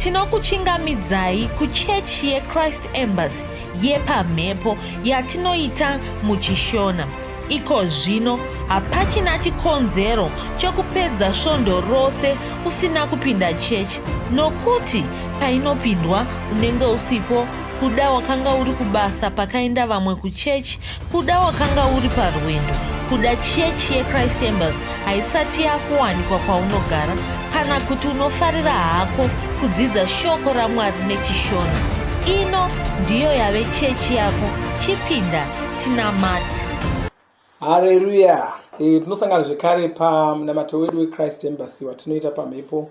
tinokuchingamidzai kuchechi yechrist embassy yepamhepo yatinoita muchishona iko zvino hapachina chikonzero chokupedza svondo rose usina kupinda chechi nokuti painopindwa unenge usipo kuda wakanga uri kubasa pakaenda vamwe kuchechi Kuda wakanga uri parwendo kuda chechi yechrist embers haisati yakuwanikwa kwaunogara kana kuti unofarira hako kudzidza shoko ramwari nechishona ino ndiyo yave chechi yako chipinda tinamati hareruya eh, tinosangana zvekare pamunamato wedu wechrist embers watinoita pamhepo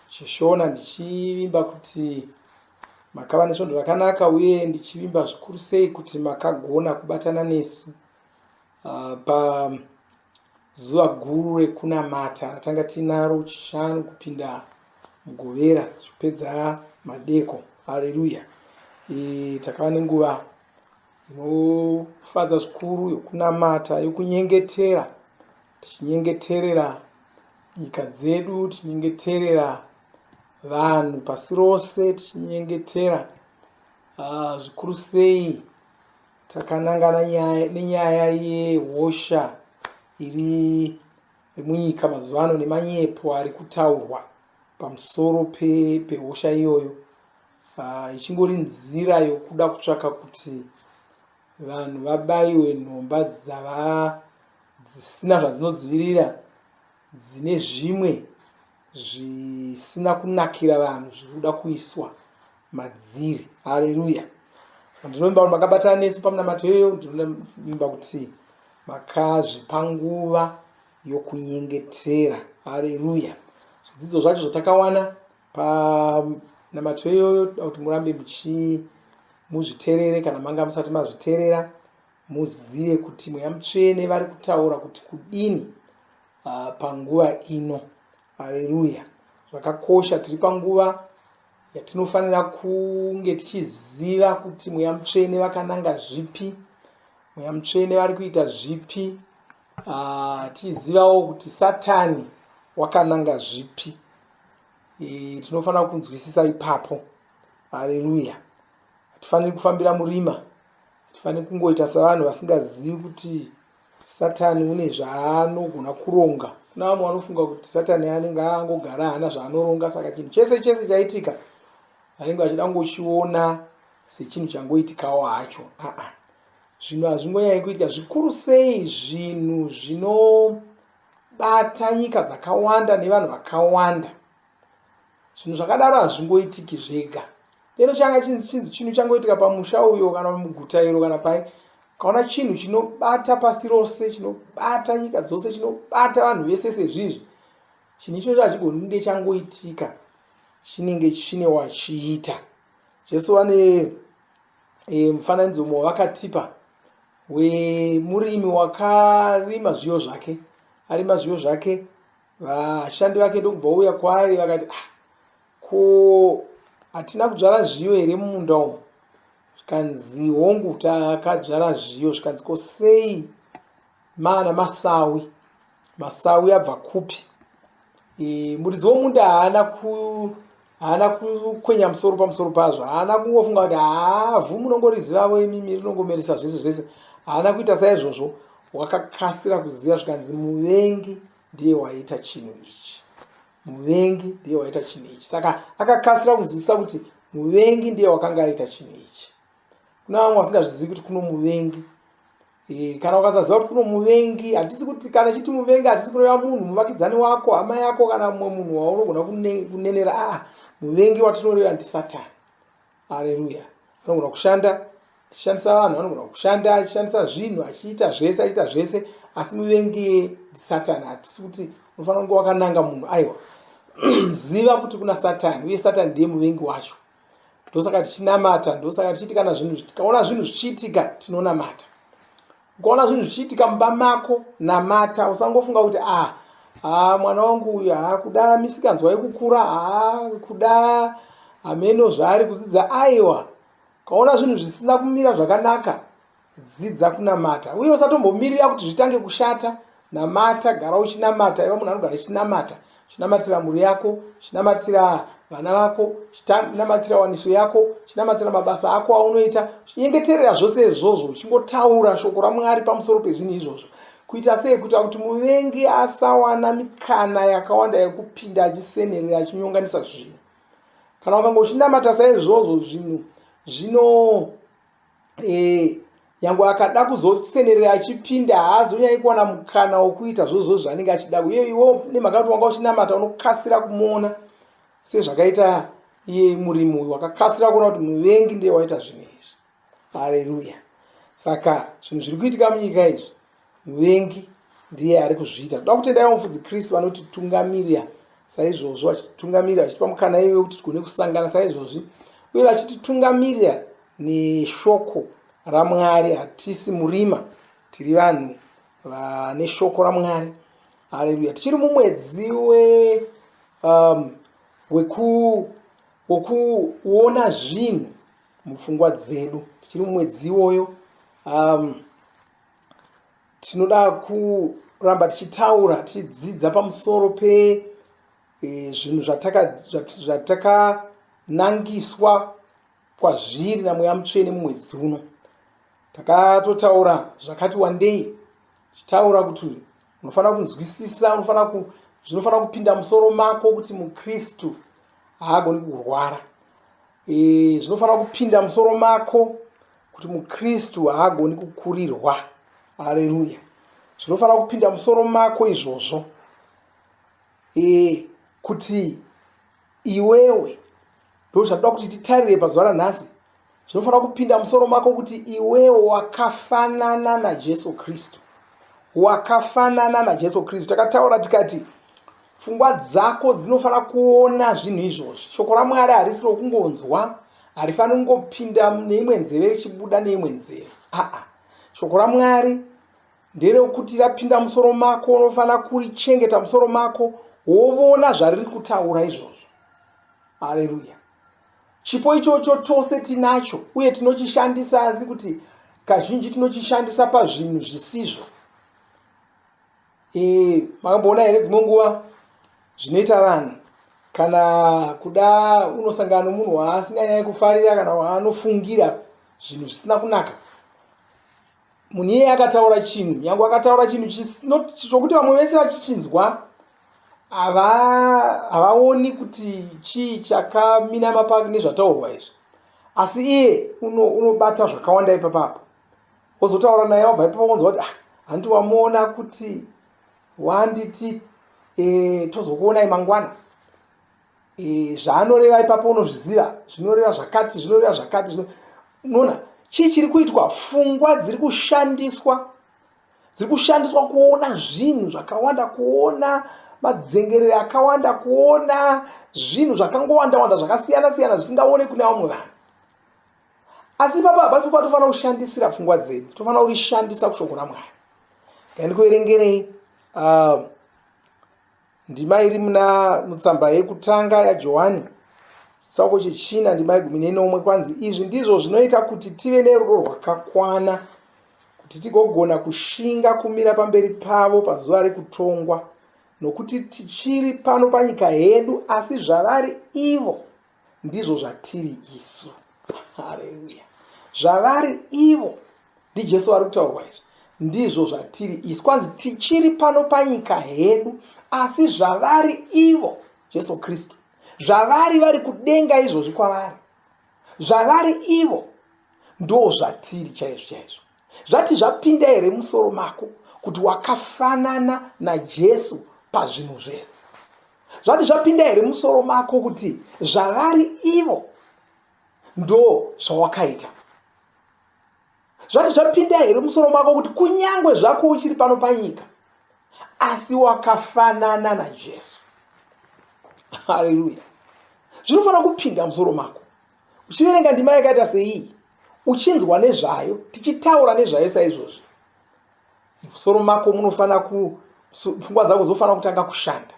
chishona ndichivimba kuti Makava nesvondo rakanaka uye ndichivimba zvikuru sei kuti makagona kubatana nesu uh, pazuva guru rekunamata ratanga tiinaro chishanu kupinda mugovera tichipedza madeko haleluya e, takava nenguva inofadza zvikuru yokunamata yokunyengetera tichinyengeterera nyika dzedu tichinyengeterera vanhu pasi rose tichinyengetera ah, zvikuru sei takanangana nenyaya yehosha iri munyika mazuva ano nemanyepo ari kutaurwa pamusoro pehosha pe iyoyo ah, ichingori nzira yokuda kutsvaka kuti vanhu vabaiwe nhomba dzava dzisina zvadzinodzivirira dzine zvimwe zvisina kunakira vanhu zviri kuda kuiswa madziri haleluya saka ndinovimba kuti makabatana nesu pamunamato iyoyo ndinovimba kuti makazvipa nguva yokunyengetera haleluya zvidzidzo zvacho zvatakawana panamato iyoyo toda kuti murambe muchimuzviterere kana manga musati mazviterera Muzive kuti mweya mutsvene vari kutaura kuti kudini uh, panguva ino. Haleluya! Zvakakosha, tiri panguva yatinofanira kunge tichiziva kuti mweya mutsvene vakananga zvipi, mweya mutsvene vari kuita zvipi, uh, tichizivawo kuti Satani wakananga zvipi. E, tinofanira kunzwisisa ipapo. Haleluya! Hatifaniri kufambira murima. Hatifaniri kungoita savanhu vasingazivi kuti Satani une zvaanogona kuronga. Kuna vamwe vanofunga kuti Satani anenge angogara hana zvaanoronga, saka chinhu chese chese chaitika vanenge vachida kungochiona sechinhu changoitikawo hacho. Aa, zvinhu hazvingonyanye kuitika zvikuru sei zvinhu zvinobata nyika dzakawanda nevanhu vakawanda. zvinhu zvakadaro hazvingoitiki zvega lero changa chinzi chinhu changoitika pamusha uyo kana muguta iro kana pai kaona chinhu chinobata pasi rose chinobata nyika dzose chinobata vanhu vese sezvizvi chinhu ichocho hachigoni kunge changoitika chinenge chine wachiita jesu vane e, mufananidzo mumwe vakatipa wemurimi wakarima zviyo zvake arima zviyo zvake vashandi vake ndokubva uya kwaari vakati ah, ko hatina kudzvara zviyo here mumunda umu zvikanzi hongu takadzvara zviyo zvikanzi ko sei maana masawi masawi abva kupi e, muridzi womunda haana ku haana kukwenya musoro pamusoro pazvo haana kungofunga kuti haavhu munongorizivavo imimi rinongomeresa zvese zvese haana kuita saizvozvo wakakasira kuziva zvikanzi muvengi ndiye waita chinhu ichi muvengi ndiye waita chinhu ichi saka akakasira kunzwisisa kuti muvengi ndiye wakanga aita chinhu ichi kuna vamwe vasingazvizivi kuti kuno muvengi eh, kana ukasaziva kuti kuno muvengi hatisi kuti kana chiti muvengi hatisi kureva munhu muvakidzani wako hama yako kana mumwe munhu waunogona kunenera aa ah, muvengi watinoreva ndisatani Haleluya. Anogona kushanda achishandisa vanhu, anogona kushanda achishandisa zvinhu, achiita zvese, achiita zvese, asi muvengi Satani. Hatisi kuti unofanira kunge wakananga munhu, aiwa. Ziva kuti kuna Satani, uye Satani ndiye muvengi wacho. Ndosaka tichinamata, ndosaka tichiti kana zvinhu tikaona zvinhu zvichiitika tinonamata. ukaona zvinhu zvichiitika mumba mako namata usangofunga kuti ah ah mwana wangu uyu haa kuda misikanzwa yekukura haa kuda hameno zvaari kudzidza aiwa ukaona zvinhu zvisina kumira zvakanaka dzidza kunamata uye usatombomirira kuti zvitange kushata namata gara uchinamata iva munhu anogara chinamata chinamatira mhuri yako chinamatira vana vako chinamatira waniso yako chinamatira mabasa ako aunoita chinyengeterera zvose izvozvo uchingotaura shoko ramwari pamusoro pezvinhu izvozvo kuita sei kuita kuti muvengi asawana mikana yakawanda yekupinda achisenerera achinyonganisa zvinhu kana ukanga uchinamata saizvozvo zvinhu zvino e, nyange akada kuzosenerera achipinda haazi unyai kuwana mukana wokuita zvozvo zvaanenge achida uye iwo nemhaka kuti wanga uchinamata unokasira kumuona sezvakaita iye murimi uyu wakakasira kuona kuti muvengi ndiye waita zvinhu izvi hareruya saka zvinhu zviri kuitika munyika izvi Muvengi ndiye ari kuzviita. Toda kutenda ivo mufudzi Chris vanotitungamirira saizvozvo, vachititungamirira vachitipa mukana iye wekuti tigone kusangana saizvozvi, uye vachititungamirira neshoko raMwari. Hatisi murima, tiri vanhu vane shoko raMwari. Haleluya! Tichiri mumwedzi we um, wekuona zvinhu mupfungwa dzedu, tichiri mumwedzi iwoyo um, tinoda kuramba tichitaura tichidzidza pamusoro pe e, zvinhu zvatakanangiswa kwazviri namweya mutsvene mumwedzi uno takatotaura zvakati wandei tichitaura kuti unofanira kunzwisisa unofanira ku zvinofanira kupinda musoro mako kuti mukristu haagoni kurwara Eh, zvinofanira kupinda musoro mako kuti mukristu haagoni kukurirwa aleluya zvinofanira kupinda musoro mako izvozvo e, kuti iwewe ndo zvatoda kuti titarire pazuva ranhasi zvinofanira kupinda musoro mako kuti iwewe wakafanana najesu kristu wakafanana najesu kristu takataura tikati Pfungwa dzako dzinofanira kuona zvinhu izvozvi. Shoko raMwari harisi rokungonzwa, harifaniri kungopinda neimwe nzeve richibuda neimwe nzeve. Aa, shoko raMwari nderekuti rapinda musoro mako, unofanira kurichengeta musoro mako, wovona zvariri kutaura izvozvo. Aleluya! Chipo ichocho tose tinacho uye tinochishandisa, asi kuti kazhinji tinochishandisa pazvinhu zvisizvo. Eh, makamboona here dzimwe nguva zvinoita vanhu kana kuda unosangana nomunhu waasinganyanye kufarira kana waanofungira zvinhu zvisina kunaka munhu iyeye akataura chinhu nyange akataura chinhu chis- not- chokuti vamwe vese vachichinzwa hava- havaoni kuti chii chakaminama pa nezvataurwa izvi asi iye uno- unobata zvakawanda ipapapo ozotaura naye wabva ipapo wonzwa kuti ah hanti wamuona kuti wanditi e, tozokuonai mangwana e, zvaanoreva ipapo unozviziva zvinoreva zvakati zvinoreva zvakati zvino unoona chii chiri kuitwa fungwa dziri kushandiswa dziri kushandiswa kuona zvinhu zvakawanda kuona madzengerere akawanda kuona zvinhu zvakangowandawanda zvakasiyana siyana zvisingaone kune vamwe vanhu asi ipapo hapasi kupa tofanira kushandisira pfungwa dzedu tofanira kurishandisa kushoko ramwari ngandikuverengerei uh, ndima iri muna mutsamba yekutanga yajohani chitsauko chechina ndima yegumi nenomwe kwanzi izvi ndizvo zvinoita kuti tive nerudo rwakakwana kuti tigogona kushinga kumira pamberi pavo pazuva rekutongwa nokuti tichiri pano panyika yedu asi zvavari ivo ndizvo zvatiri isu hareruya zvavari ivo ndijesu vari kutaurwa izvi ndizvo zvatiri isu kwanzi tichiri pano panyika hedu asi zvavari ivo jesu kristu zvavari vari kudenga izvozvi kwavari zvavari ivo ndo zvatiri chaizvo chaizvo zvati zvapinda here musoro mako kuti wakafanana najesu pazvinhu zvese zvati zvapinda here musoro mako kuti zvavari ivo ndo zvawakaita zvati zvapinda here musoro mako kuti kunyange zvako uchiri pano panyika asi wakafanana najesu haleluya zvinofanira kupinda musoro mako uchiverenga ndima yakaita seiyi uchinzwa nezvayo tichitaura nezvayo saizvozvi musoro mako munofanira ku pfungwa dzako dzinofanira kutanga kushanda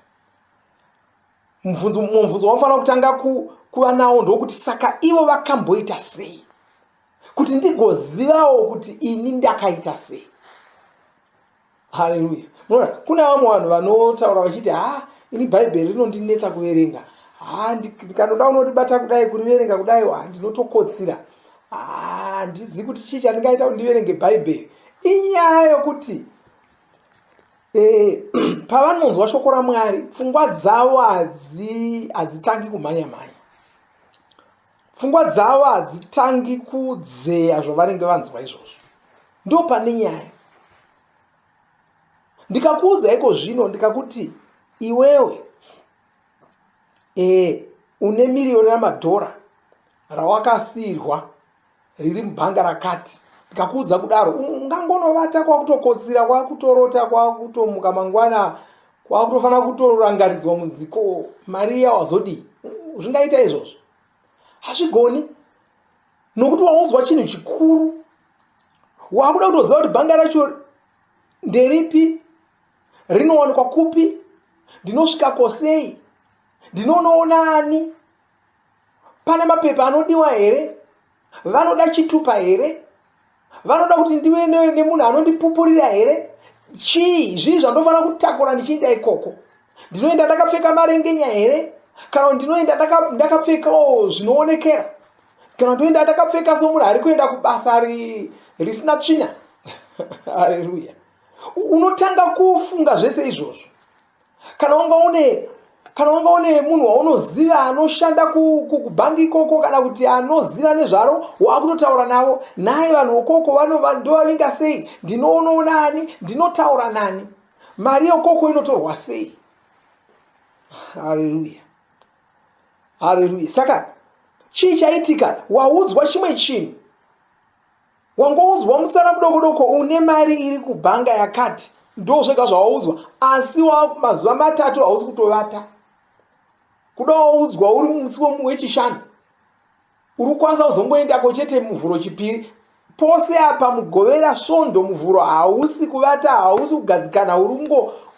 mubvunzo mubvunzo waunofanira kutanga ku, kuva nawo ndokuti saka ivo vakamboita sei kuti ndigozivawo kuti ini ndakaita sei haleluya munoona kune vamwe vanhu vanotaura vachiti ha ini bhaibheri rinondinetsa kuverenga ha ndikanoda unoribata kudai kuriverenga kudai wa ndinotokotsira handizivi kuti chii chandingaita kuti ndiverenge bhaibheri inyaya yokuti eh, pavanonzwa shoko ramwari pfungwa dzavo hadzitangi kumhanya mhanya pfungwa dzavo hadzitangi kudzeya zvavanenge vanzwa izvozvo ndo pane nyaya ndikakuudza iko zvino ndikakuti iwewe e, une miriyoni ramadhora rawakasiirwa riri mubhanga rakati ndikakuudza kudaro ungangonovata kwakutokotsira kwakutorota kwakutomuka mangwana kwakutofanira kutorangaridzwa muziko mari iya wazodii zvingaita izvozvo hazvigoni nokuti waunzwa chinhu chikuru wakuda kutoziva kuti bhanga racho nderipi rinowanikwa kupi ndinosvika kosei ndinonoona ani pane mapepa anodiwa here vanoda chitupa here vanoda kuti ndive nemunhu anondipupurira here chii zvii zvandofanira kutakura ndichienda ikoko ndinoenda ndakapfeka marengenya here kana kuti ndinoenda ndakapfekawo zvinoonekera kana ndoenda ndakapfeka somunhu ari kuenda kubasa risina tsvina hareruya unotanga kufunga zvese izvozvo kana wanga une kana wanga une munhu waunoziva anoshanda kubhangi ikoko kana kuti anoziva nezvaro waakutotaura navo naye vanhu wokoko ndovavinga sei ndinoonawo nani ndinotaura nani mari yokoko inotorwa sei haleluya haleluya saka chii chaitika waudzwa chimwe chinhu wangoudzwa musara mudokodoko une mari iri kubhanga yakati ndo zvega zvawaudzwa asi mazuva matatu hausi kutovata kuda waudzwa uri musi wechishanu uri kukwanisa kuzongoendako chete muvhuro chipiri pose apa mugovera svondo muvhuro hausi kuvata hausi kugadzikana uri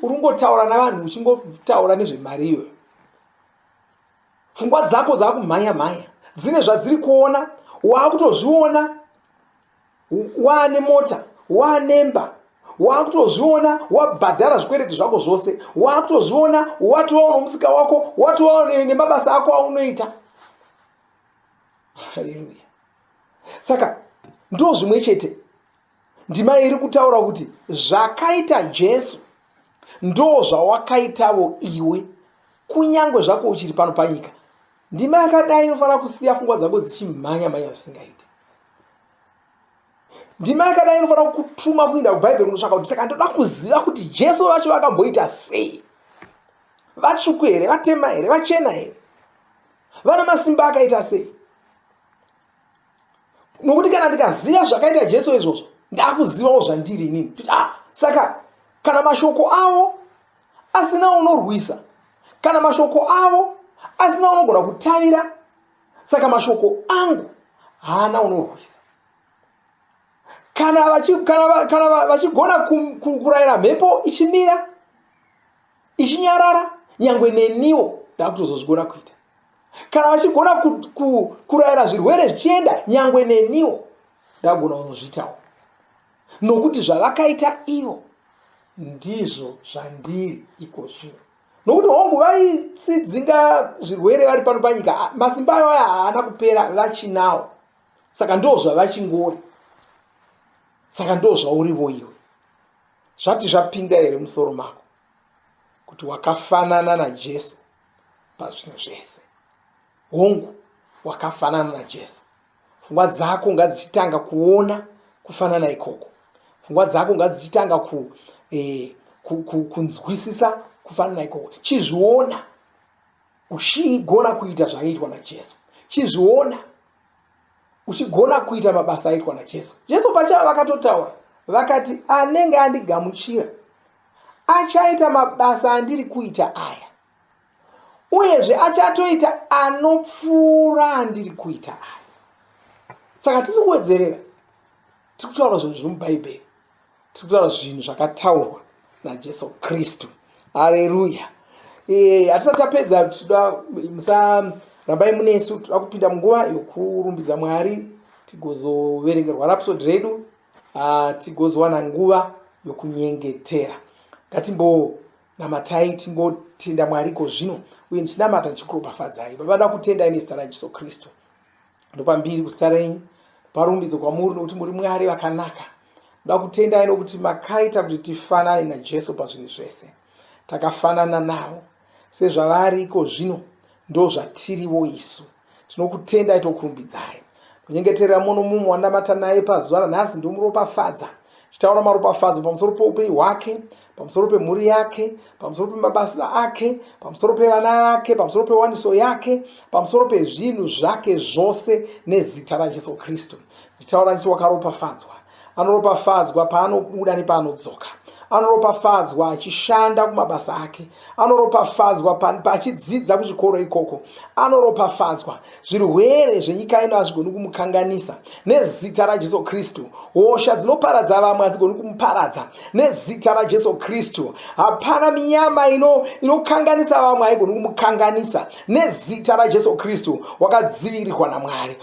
kungotaura navanhu uchingotaura nezvemari iyoyo pfungwa dzako dzakumhanya mhanya dzine zvadziri kuona waakutozviona waane mota waane mba waakutozviona wabhadhara zvikwereti zvako zvose waakutozviona watova unomusika wako watova nemabasa ako aunoita haleluya saka ndo zvimwe chete ndima iri kutaura kuti zvakaita jesu ndo zvawakaitavo iwe kunyange zvako uchiri pano panyika ndima yakadai inofanira kusiya fungwa dzako dzichimhanya mhanya zvisingaiti ndima yakadai inofanira kutuma kuinda kubhaibheri kunotsvaka kuti saka ndoda kuziva kuti jesu vacho vakamboita sei vatsvuku here vatema here vachena here vana masimba akaita sei nokuti kana ndikaziva zvakaita jesu izvozvo ndakuzivawo zvandiri inini kuti ah saka kana mashoko avo asina unorwisa kana mashoko avo asina unogona kutavira saka mashoko angu haana unorwisa kana vachigona kurayira mhepo ichimira ichinyarara nyangwe neniwo ndakutozozvigona kuita kana vachigona kurayira ku, ku zvirwere zvichienda nyangwe neniwo ndagona kunozvitawo nokuti zvavakaita ivo ndizvo zvandiri iko zvino nokuti hongu vaitsidzinga zvirwere vari pano panyika masimba ayo aya haana kupera vachinawo saka ndo zvavachingori saka ndo zvaurivo iwe Zvati zvapinda here musoro mako kuti wakafanana naJesu pazvinhu zvese? Hongu, wakafanana naJesu. Pfungwa dzako ngadzichitanga kuona kufanana ikoko. Pfungwa dzako ngadzichitanga ku, eh, ku, ku, kunzwisisa kufanana ikoko. Chizviona uchigona kuita zvakaitwa naJesu. Chizviona uchigona kuita mabasa aitwa najesu jesu pachavo vakatotaura vakati anenge andigamuchira achaita mabasa andiri kuita aya uyezve achatoita anopfuura andiri kuita aya saka tisi kuwedzerera tiri kutaura zvinhu zviri mubhaibheri tiri kutaura zvinhu zvakataurwa najesu kristu hareruya eh, hatisati tapedza tida musarambai munesu tida kupinda munguva yokurumbidza mwari tigozoverengerwa rapsod redu ah, tigozowana nguva yokunyengetera ngatimbo namatai tingotenda mwari ko zvino uye ndichinamata ndichikuropafadzai baba da kutendai nezita rajesu kristu ndopambiri kuzita renyu parumbidzo kwamuri nokuti muri mwari vakanaka ndoda kutendai nokuti makaita kuti tifanane najesu pazvinhu zvese takafanana navo sezvavari iko zvino ndo zvatiriwo isu tinokutendai tokurumbidzai kunyengeterera muno mumwe wandamata naye pazuva ranhasi ndomuropafadza chitaura maropafadzo pamusoro poupenyu hwake pamusoro pemhuri yake pamusoro pemabasa ake pamusoro pevana vake pamusoro pewaniso yake pamusoro pezvinhu zvake zvose nezita rajesu kristu ndichitaura ndichi wakaropafadzwa anoropafadzwa paanobuda nepaanodzoka anoropafadzwa achishanda kumabasa ake anoropafadzwa paachidzidza kuchikoro ikoko anoropafadzwa zvirwere zvenyika ino hazvigoni kumukanganisa nezita rajesu kristu hosha dzinoparadza vamwe hadzigoni kumuparadza nezita rajesu kristu hapana minyama ino inokanganisa vamwe haigoni kumukanganisa nezita rajesu kristu wakadzivirirwa namwari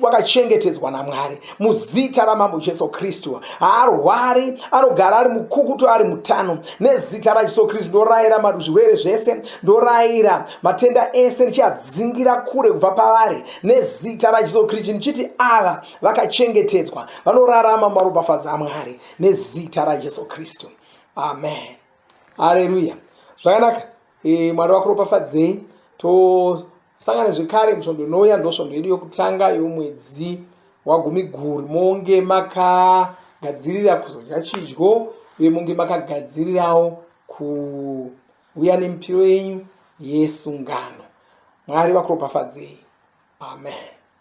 wakachengetedzwa namwari muzita ramambo jesu kristu haarwari anogara ari mukukutu ari mutano nezita rajesu kristu ndorayira mazvirwere zvese ndorayira matenda ese ndichiadzingira kure kubva pavari nezita rajesu kristu ndichiti ava vakachengetedzwa vanorarama maropafadza amwari nezita rajesu kristu amen haleluya zvakanaka e, mwari wakuropafadzei tosangana zvekare musvondo inouya ndosvondo yedu yokutanga yomwedzi wagumi guru monge makagadzirira kuzodya chidyo uye monge makagadzirirawo kuuya nemipiro yenyu yesungano mwari vakuropafadzei amen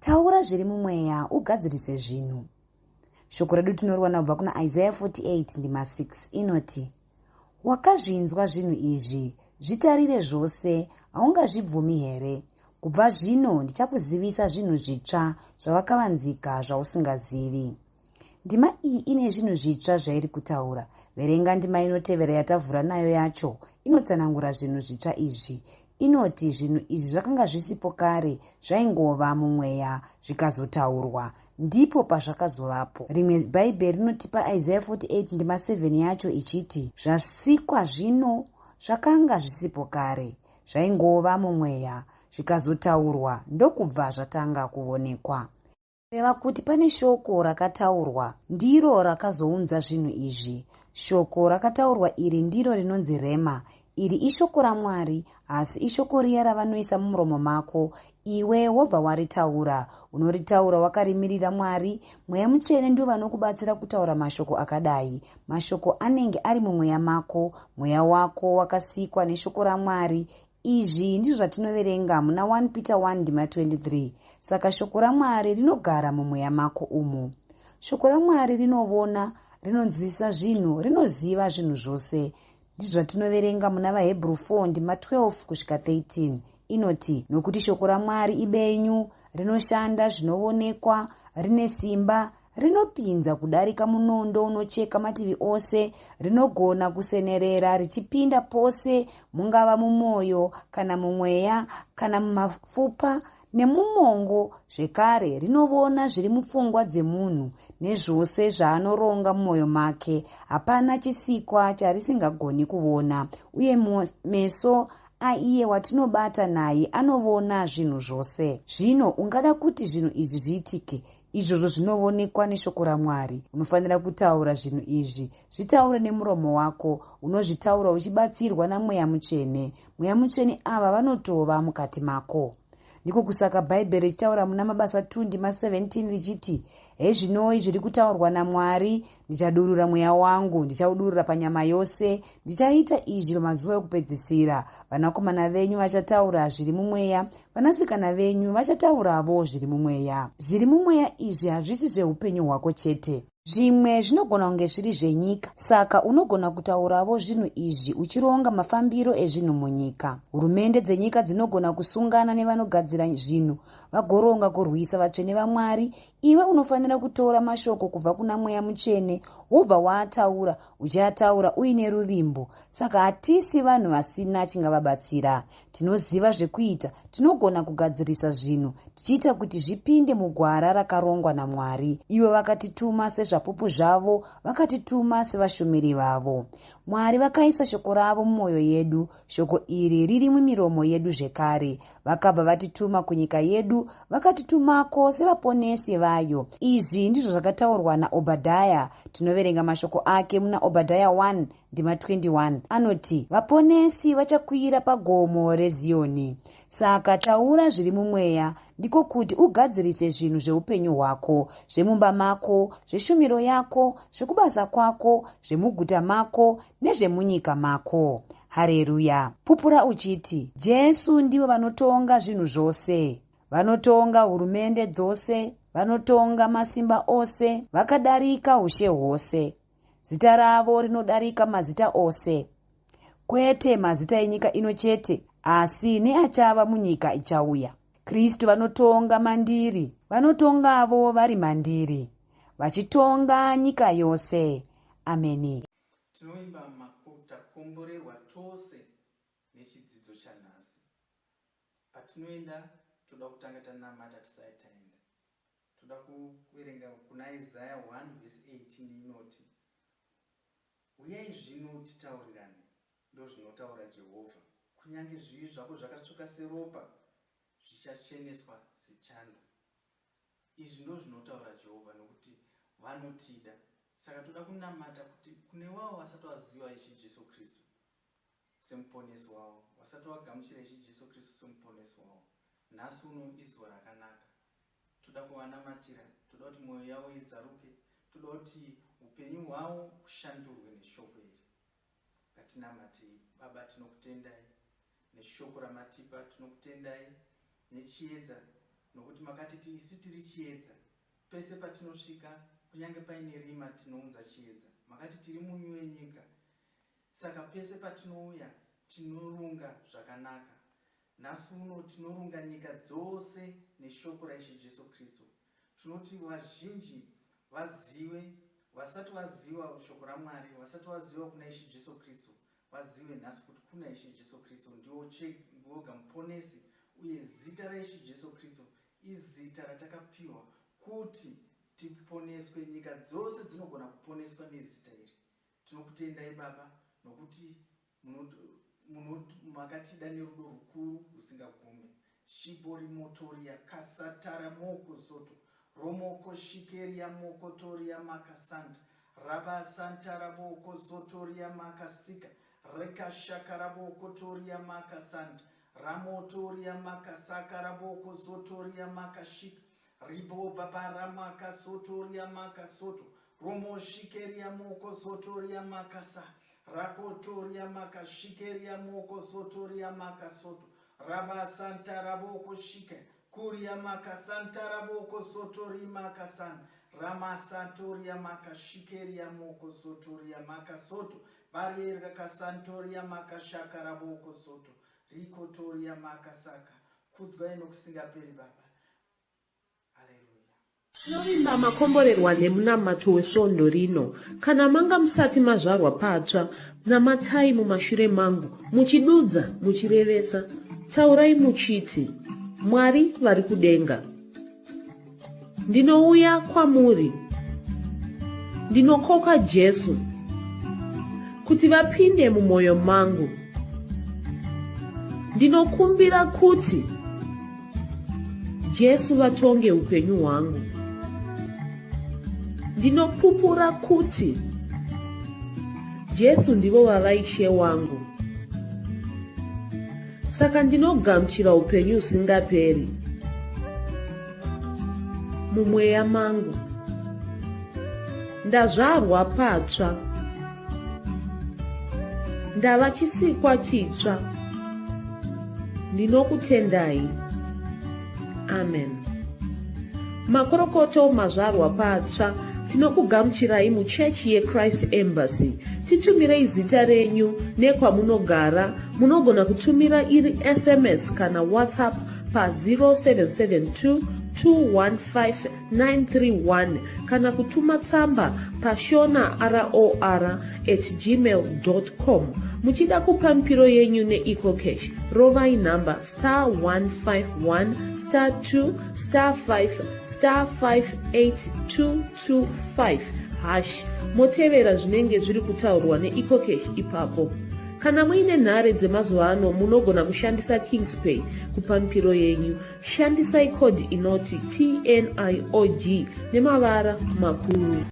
taura zviri mumweya ugadzirise zvinhu shoko redu tinoriwana kubva kuna isaya 48 ndima 6 inoti wakazvinzwa zvinhu izvi zvitarire zvose haungazvibvumi here kubva zvino ndichakuzivisa zvinhu zvitsva zvavakavanzika zvausingazivi ndima iyi ine zvinhu zvitsva zvairi kutaura verenga ndima inotevera yatavhura nayo yacho inotsanangura zvinhu zvitsva izvi inoti zvinhu izvi zvakanga zvisipo kare zvaingova mumweya zvikazotaurwa ndipo pazvakazovapo rimwe bhaibheri rinotipa isaya 48 ndima 7 yacho ichiti zvasikwa zvino zvakanga zvisipo kare zvaingova mumweya zvikazotaurwa ndokubva zvatanga kuonekwa Kureva kuti pane shoko rakataurwa ndiro rakazounza zvinhu izvi. Shoko rakataurwa iri ndiro rinonzi rhema. Iri ishoko raMwari, asi ishoko riya ravanoisa mumuromo mako, iwe wobva waritaura. Unoritaura wakarimirira Mwari, Mweya Mutsvene ndiwo vanokubatsira kutaura mashoko akadai. Mashoko anenge ari mumweya mako, mweya wako wakasikwa neshoko raMwari, Izvi ndizvo zvatinoverenga muna 1 Peter 1 ndima 23 saka shoko raMwari rinogara mumweya mako umo. Shoko raMwari rinovona, rinonzwisisa zvinhu, rinoziva zvinhu zvose. Ndizvo zvatinoverenga muna vaHebrew 4 ndima 12 kusvika 13 inoti, Nokuti shoko raMwari ibenyu, rinoshanda zvinovonekwa, rine simba, Rinopinza kudarika munondo unocheka mativi ose, rinogona kusenerera richipinda pose, mungava mumwoyo kana mumweya kana mumafupa nemumongo zvekare rinovona zviri mupfungwa dzemunhu nezvose zvaanoronga mumwoyo make hapana chisikwa charisingagoni kuvona uye meso aiye watinobata naye anovona zvinhu zvose zvino ungada kuti zvinhu izvi zviitike Izvozvo zvinovonekwa neshoko raMwari. Unofanira kutaura zvinhu izvi. Zvitaure nemuromo wako. Unozvitaura uchibatsirwa naMweya Mutsvene. Mweya Mutsvene ava vanotova mukati mako. Ndiko kusaka Bhaibheri richitaura muna Mabasa 2 ndima 17 richiti, Hezvinoi zviri kutaurwa naMwari, Ndichadurura mweya wangu, ndichaudurura panyama yose. Ndichaita izvi pamazuva okupedzisira. Vanakomana venyu vachataura zviri mumweya, vanasikana venyu vachatauravo zviri mumweya. Zviri mumweya izvi hazvisi zveupenyu hwako chete. Zvimwe zvinogona kunge zviri zvenyika, saka unogona kutauravo zvinhu izvi uchironga mafambiro ezvinhu munyika. Hurumende dzenyika dzinogona kusungana nevanogadzira zvinhu vagoronga kurwisa vatsvene vaMwari iwe unofanira kutora mashoko kubva kuna mweya mutsvene wobva waataura uchayataura uine ruvimbo saka hatisi vanhu vasina chingavabatsira tinoziva zvekuita tinogona kugadzirisa zvinhu tichiita kuti zvipinde mugwara rakarongwa namwari ivo vakatituma sezvapupu zvavo vakatituma sevashumiri vavo mwari vakaisa shoko ravo mumwoyo yedu shoko iri riri mumiromo yedu zvekare vakabva vatituma kunyika yedu vakatitumako sevaponesi vayo izvi ndizvo zvakataurwa naobhadhaya tinoverenga mashoko ake muna obhadhaya 1 ndima 21 anoti vaponesi vachakwira pagomo reziyoni saka taura zviri mumweya ndiko kuti ugadzirise zvinhu zveupenyu hwako zvemumba mako zveshumiro yako zvekubasa kwako zvemuguta mako nezvemunyika mako hareruya pupura uchiti jesu ndivo vanotonga zvinhu zvose vanotonga hurumende dzose vanotonga masimba ose vakadarika ushe hwose zita ravo rinodarika mazita ose kwete mazita enyika ino chete asi neachava munyika ichauya kristu vanotonga mandiri vanotongavo vari mandiri vachitonga nyika yose ameni Tinoimba maku takomborerwa tose nechidzidzo chanhasi. Patinoenda toda kutanga tanamata tisati taenda. Toda kuverenga kuna Isaya 1 vhesi 18 inoti, Huyai zvino titaurirane, ndozvinotaura Jehovha, kunyange zvivi zvako zvakatsvuka seropa zvichacheneswa sechando. Izvi ndozvinotaura Jehovha, nokuti vanotida. Saka toda kunamata kuti kune wavo vasati vaziva Ishe Jesu Kristu seMuponesi wavo, vasati vagamuchira Ishe Jesu Kristu seMuponesi wavo, nhasi uno izuva rakanaka. Toda kuvanamatira, toda kuti mwoyo yavo izaruke, toda kuti upenyu hwavo hushandurwe neShoko iri. Ngatinamatei. Baba, tinokutendai Neshoko ramatipa tinokutendai nechiedza nokuti makatiti isu tiri chiedza. Pese patinosvika kunyange paine rima tinounza chiedza. Makati tiri munyu wenyika saka pese patinouya tinorunga zvakanaka. Nhasi uno tinorunga nyika dzose neshoko raIshe Jesu Kristu Tinoti vazhinji vazive, vasati vaziva shoko raMwari, vasati vaziva kuna Ishe Jesu Kristu, vazive nhasi kuti kuna Ishe Jesu Kristu ndiwo oga muponesi, uye zita raIshe Jesu Kristu izita ratakapiwa kuti tiponeswe. Nyika dzose dzinogona kuponeswa nezita iri, Tinokutendai Baba nokuti makatida nerudo rukuru rusingagume. Shibo rimotoria kasatara moko soto romoko shikeria moko toria maka santa raba santara boko sotoria maka sika reka shakara boko toria maka santa ramotoria maka sakara boko sotoria maka shika Ribo babara maka soto ria maka soto romo shikeria moko soto ria maka sa rako toria maka shikeria moko soto ria maka soto raba santa raboko shike kuria maka santa raboko soto ri maka san rama santo ria maka shikeria moko soto ria maka soto barierga ka santo ria maka shaka raboko soto riko toria maka saka kudzwa ino kusingaperi baba Tinovimba makomborerwa nemunamato wesvondo rino. Kana manga musati mazvarwa patsva, namatai mumashure mangu, muchidudza, muchirevesa. Taurai muchiti, Mwari vari kudenga. Ndinouya kwamuri. Ndinokoka Jesu kuti vapinde mumwoyo mangu. Ndinokumbira kuti Jesu vatonge upenyu hwangu. Ndinopupura kuti Jesu ndivo vava ishe wangu. Saka ndinogamuchira upenyu usingaperi mumweya mangu. Ndazvarwa patsva. ndava chisikwa chitsva ndinokutendai amen makorokoto mazvarwa patsva tinokugamuchirai muchechi yechrist embassy titumirei zita renyu nekwamunogara munogona kutumira iri sms kana whatsapp pa 0772 215 931 kana kutuma tsamba pashona ror at gmail com muchida kupa mipiro yenyu neecocash rovai nhamba star 151 star 2 star 5 star 58225 hash motevera zvinenge zviri kutaurwa neecocash ipapo kana muine nhare dzemazuva ano munogona kushandisa kingspay kupa mipiro yenyu Shandisai code inoti TNIOG nemavara makuru.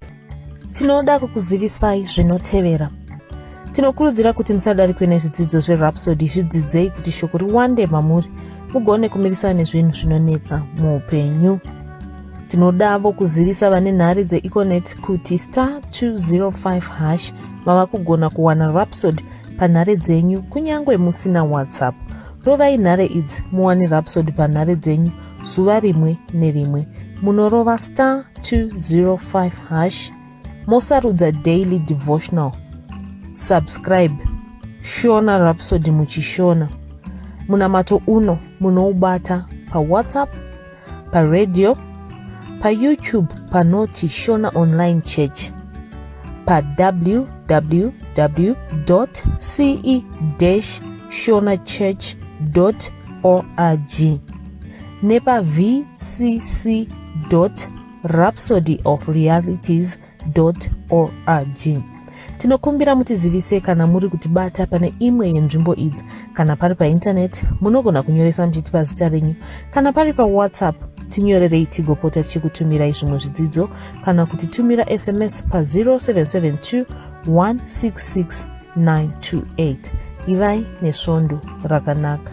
Tinoda kukuzivisai zvinotevera. Tinokurudzira kuti musadarikwe nezvidzidzo zveRhapsody zvidzidzei kuti shoko riwande mamuri mugone kumirisana nezvinhu zvinonetsa muupenyu. Tinodavo kuzivisa vane nhare dzeEconet kuti star 205 hash mava kugona kuwana Rhapsody panhare dzenyu kunyange musina WhatsApp. Rovai nhare idzi muwane Rhapsody panhare dzenyu zuva rimwe nerimwe. Munorova star 205 hash mosarudza daily devotional. Subscribe Shona Rhapsody muchishona. Munamato uno munoubata paWhatsApp paradio payoutube panoti shona online church pawww ce shona church org nepavcc rhapsody of realities org tinokumbira mutizivise kana muri kutibata pane imwe yenzvimbo idzi kana pari paintaneti munogona kunyoresa muchitipa zita renyu kana pari pawhatsapp tinyorerei tigopota tichikutumirai zvimwe zvidzidzo kana kuti tumira sms pa 0772 166 928 ivai nesvondo rakanaka